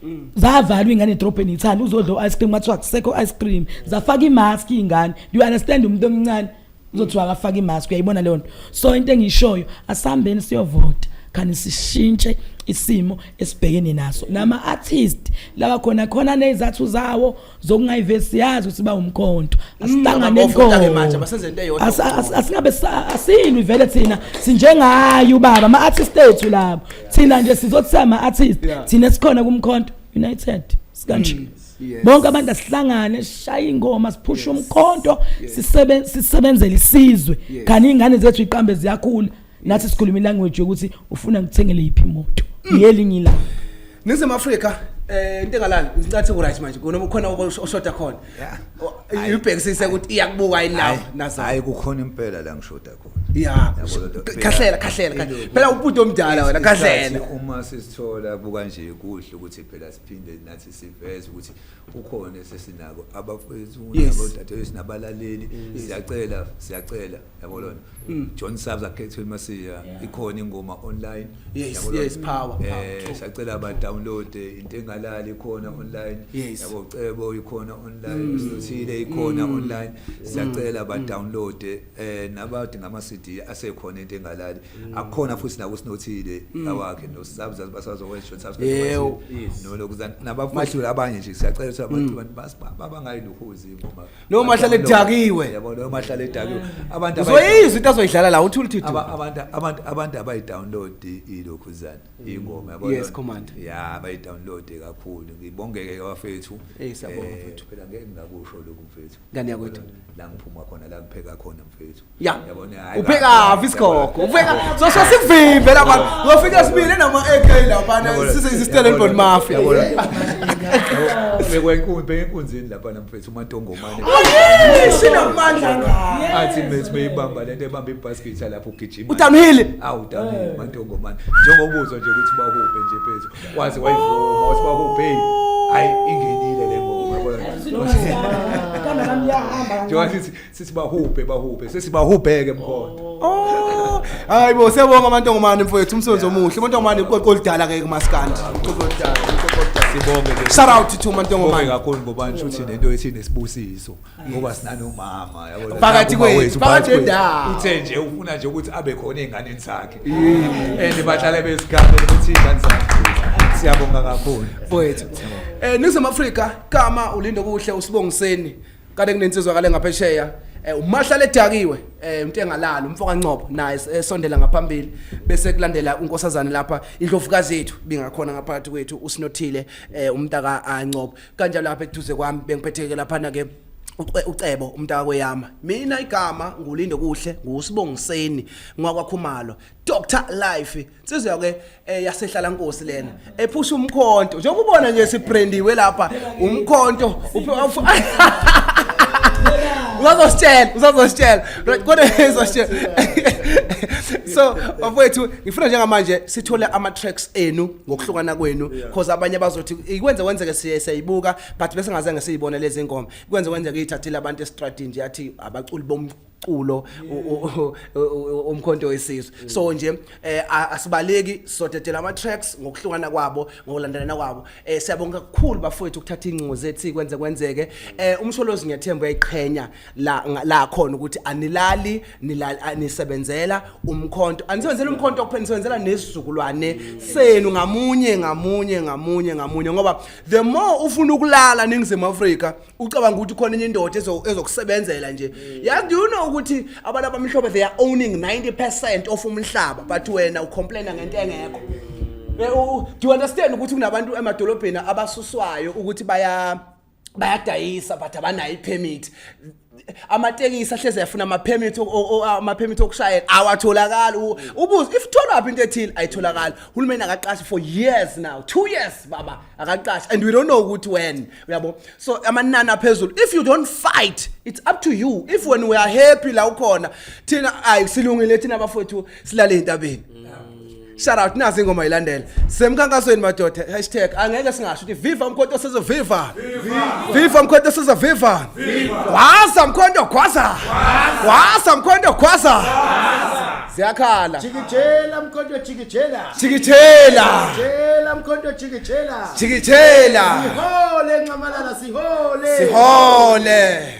mm. zavalwa ingane edrobheni ithanda uzodla ice cream kwathiwa kusekho ice cream zafaka imask ingane do you understand umuntu omncane uzothiwa akafake imask uyayibona leyo nto so into engiyishoyo asihambeni siyovota khani sishintshe isimo esibhekene naso nama artist laba khona khona nezathu zawo zokungayivesi yazi ukuthi bawumkhonto mm, asihlangane ikhona manje basenze into eyodwa asingabe asilwi vele thina sinjengayo ubaba ama artist ethu labo thina nje sizothi sama artist thina sikhona kumkhonto united sikanje mm. Yes. bonke abantu asihlangane sishaye ingoma siphushe Yes. umkhonto Yes. sisebe- sisebenzele isizwe Yes. kanti iy'ngane zethu iqambe ziyakhula nathi sikhuluma ilanguage yokuthi ufuna ngikuthengele yiphi imoto Mm. yelinye ilanga ningizimu afrika um into engalali ngincathi ku-right manje kunoma khona oshoda khona Yeah. O- ibhekisise ukuthi iyakubuka yini nawo nazo hayi kukhona impela la ngishoda khona ya Yabo lento. khahlela khahlela khahlela. Ilokhu. phela ubhuti omdala wena Isikhathi khahlela uma sisithola buka nje kuhle ukuthi phela siphinde nathi siveze ukuthi ukhona esesinako abafethu nabodadewethu sinabalaleli mm. siyacela siyacela yabo lona mm. John Sabs akhethwe masiya ikhona ingoma online yes yes power eh siyacela ba download eh, into engalali ikhona mm. online yabo cebo ikhona online sithile ikhona online siyacela ba download eh, eh nabathi ngama CD asekhona into engalali mm. akukhona futhi naku sinothile mm. awakhe no sabza basazokwenza short subscribe no lokuzana nabafashuli abanye nje siyacela ukuthi abantu mm. basibaba bangayi luhuzi ngoba no mahlale edakiwe yabo no mahlale edakiwe abantu uzoyiza into azoyidlala la uthi ulithi abantu abantu abantu abayi download ilokhuzana ingoma yabo yes command ya abayi download kakhulu ngibongeke abafethu eh siyabonga eh, mfethu phela ngeke ngakusho lokhu mfethu ngane yakwethu la ngiphuma khona la ngipheka khona mfethu ya yabona hayi upheka viskoko upheka so so sikuvimbe la bantu ngofika sibile nama AK la bana sise isistellenbon mafia bekwa inkunzi bekwa inkunzini lapha namfethu umatongomane sinamandla ngayo athi mfethu beyibamba lento ebamba ibasket lapho ugijima utamhili awu utamhili mantongomane njengobuzo nje ukuthi bahuphe nje phezulu waze wayivuma wathi bakubheki hayi ingenile le ngoma yabona kana nami yahamba njengoba sithi sithi bahubhe bahubhe sesibahubheke mkhona Oh. Hayi bo siyabonga amantongomane mfowethu umsebenzi omuhle. Amantongomane iqoqo lidala ke kumaskandi. Iqoqo lidala, iqoqo lidala. sibonge ke Shout out to Sibonge mantongomane. kakhulu ngoba ngisho ukuthi lento ethi nesibusiso ngoba sinanomama yabo Phakathi Uma kwethu, wethu, phakathi kwethu. nendawo. uthe nje ufuna nje ukuthi abe khona ey'nganeni zakhe and bahlale bezigambe ukuthi iy'ngane zakhe siyabonga kakhulu mfowethu eh ningizimu afrika kama ulindo kuhle usibongiseni kade kunensizwa kale ngaphesheya eh umahlale edakiwe eh umuntu engalali umfo kancopho naye es- esondela ngaphambili bese kulandela unkosazane lapha indlovukazi yethu bingakhona ngaphakathi kwethu usinothile eh umntaka ancopho kanja lapha eduze kwami bengiphetheke laphana ke uCe- ucebo umntaka kweyama mina igama ngulinde kuhle ngusibongiseni ngwakwakhumalo dr life nsizwa ke eh, yasehlala nkosi lena ephusha umkhonto njengoba ubona nje sibrandiwe lapha umkhonto uphe- ufu- uzazositshela uzazositshela Right, kodwa uzositshela so bafowethu ngifuna njengamanje sithole ama-tracks enu ngokuhlukana kwenu because abanye abazothi ikwenze kwenzeke siye siyibuka but bese ngaze ngesiyibona lezi ngoma kwenze kwenzeke ithathile abantu estradini nje athi abaculi bom umculo umkhonto wesizwe mm. so nje eh, asibaleki sodedela ama tracks ngokuhlukana kwabo ngokulandelana kwabo eh, siyabonga kakhulu bafowethu ukuthatha incingo zethu kwenze kwenzeke eh, umsholozi ngiyathemba uyayiqhenya la nga- la khona ukuthi anilali nilali anisebenzela umkhonto anisebenzela umkhonto kuphela nisebenzela nesizukulwane senu ngamunye ngamunye ngamunye ngamunye ngoba the more ufuna ukulala ningizimu Afrika ucabanga ukuthi khona enye indoda ezo- ezokusebenzela nje yazi do you know ukuthi abantu abamhlophe they are owning 90% of umhlaba but wena ucomplaina ngento engekho Eh, u- u- do you understand ukuthi kunabantu emadolobheni abasuswayo ukuthi baya bayadayisa but abanayo ipermit amatekisi ahleze yafuna ama-permit ama-permit okushayela awatholakali ubuze if tholaphi into ethile ayitholakali uhulumeni akaqashi for years now two years baba akaqashi and we don't know ukuthi when uyabo so amanani aphezulu if you don't fight it's up to you if when we are happy la ukhona thina ayi silungile thina bafowethu silale entabeni shout out nazi ingoma ilandela semkhankasweni madoda hashtag angeke singasho ukuthi viva umkhonto sizo viva viva umkhonto sizo viva gwaza mkhonto gwaza gwaza mkhonto gwaza siyakhala Jikijela mkhonto jikijela. jikijela Jikijela mkhonto jikijela. jikijela Sihole nxamalala sihole. sihole